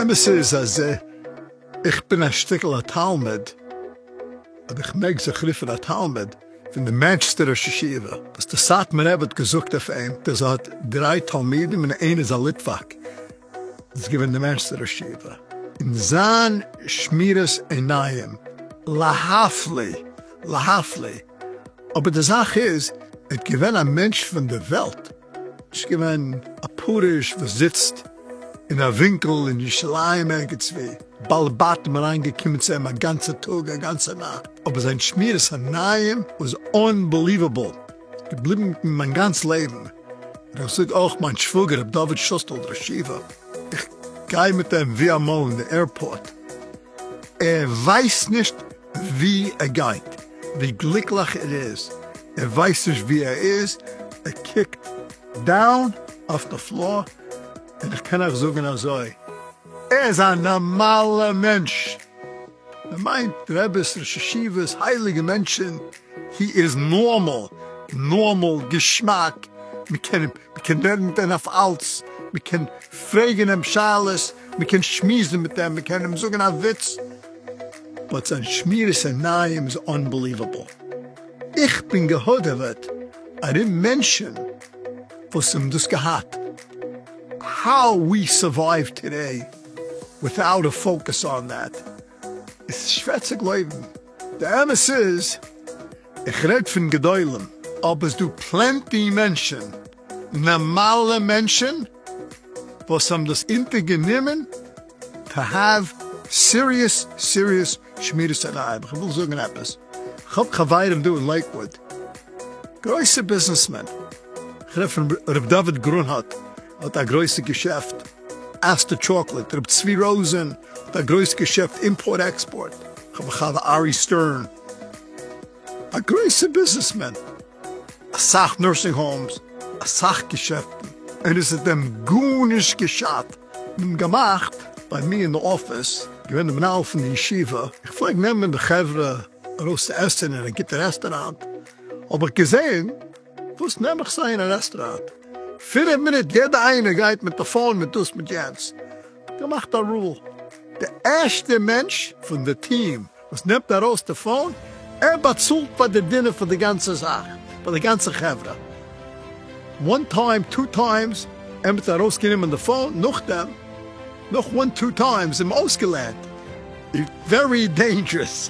אמת איז אז איך בין א שטיקל א תלמיד, אויב איך מעג זיך רופן א תלמיד, פון די מענטשסטע ראש ישיבה, וואס די סאטמאר רב האט געזאגט אויף אים אז ער האט דריי תלמידים און איינער איז א ליטוואק, איז געווען די מערסטע ראש ישיבה אין זיין שמירת עיניים להפלא להפלא, אבער די זאך איז ער האט געווען א מענטש פון די וועלט, נישט געווען א פרוש וואס זיצט אין א ווינקל אין ירושלים ערגעצוואו, בעל בתים אריין געקומען צו אים א גאנצע טאג א גאנצע נאכט, אבער זיין שמירת עיניים וואס אנבעליוועבל. געבליבן מיט מיר מיין גאנץ לעבן, און איך זאג אויך מיין שוואגער ר' דוד שוסטעל דרשיווא, איך גיי מיט אים ווי אמאל אין די עירפארט, ער ווייסט נישט ווי ער גייט, ווי גליקליך ער איז, ער ווייסט נישט ווי ער איז, ער קוקט דאון אויף די פלאר, און איך קען אייך זאגן אזוי, ער איז א נארמאלע מענטש, מען מיינט רעביס ראש ישיבות הייליגע מענטשן, הי איז נארמאל, נארמאל געשמאק, מ'קען מ'קען רעדן מיט אים אויף אלץ, מ'קען פרעגן אים שאלות, מ'קען שמועסן מיט אים, מ'קען אים זאגן א וויץ, באט זיין שמירת עיניים איז אנבעליוועבל, איך בין געהאדעוועט ארום מענטשן וואס האבן דאס געהאט, האו ווי סורווייוו טודעי וויטאוט א פאוקעס אן דעט. עס איז שווער צו גלויבן, די אמת איז איך רעד פון גדולים, אבער עס דא פלענטי מענטשען, נארמאלע מענטשען, וואס האבן דאס אינטער גענימען טא העוו סיריעס סיריעס שמירת עיניים, איך וויל זאגן עפעס, איך האב חברים דא אין לעיקוואד, גרויסע ביזנעסמען, איך רעד פון ר' דוד גרונהוט, האט א גרויסע געשעפט. אסתר טשאקלעט, ר' צבי ראזען האט א גרויס געשעפט אימפארט עקספארט, כ'האב א חבר ארי סטערן א גרויסע ביזנעסמען, אסאך נורסינג האומס, אסאך געשעפטן, און עס איז דעם גארנישט געשאט. מ'האט געמאכט ביי מיר אין די אפיס, געווען די מנהל פון די ישיבה, איך פלעג נעמען די חברה ארויס צו עסן אין א גוטע רעסטוראנט, האב איך געזען, וואס נעם איך זיי אין א רעסטוראנט? פינף מינוט יעדע איינער גייט מיט א פאון מיט דאס מיט יענץ, געמאכט א רול, די ערשטע מענטש פון די טיעם וואס נעמט ארויס די פאון, ער באצאלט פאר די דינער פאר די גאנצע זאך, פאר די גאנצע חברה, וואן טיים טו טיימס, ער מיט ארויס גענומען די פאון, נאכדעם נאך וואן טו טיימס, איז מען אויסגעלערנט, ווערי דעינדזשרעס.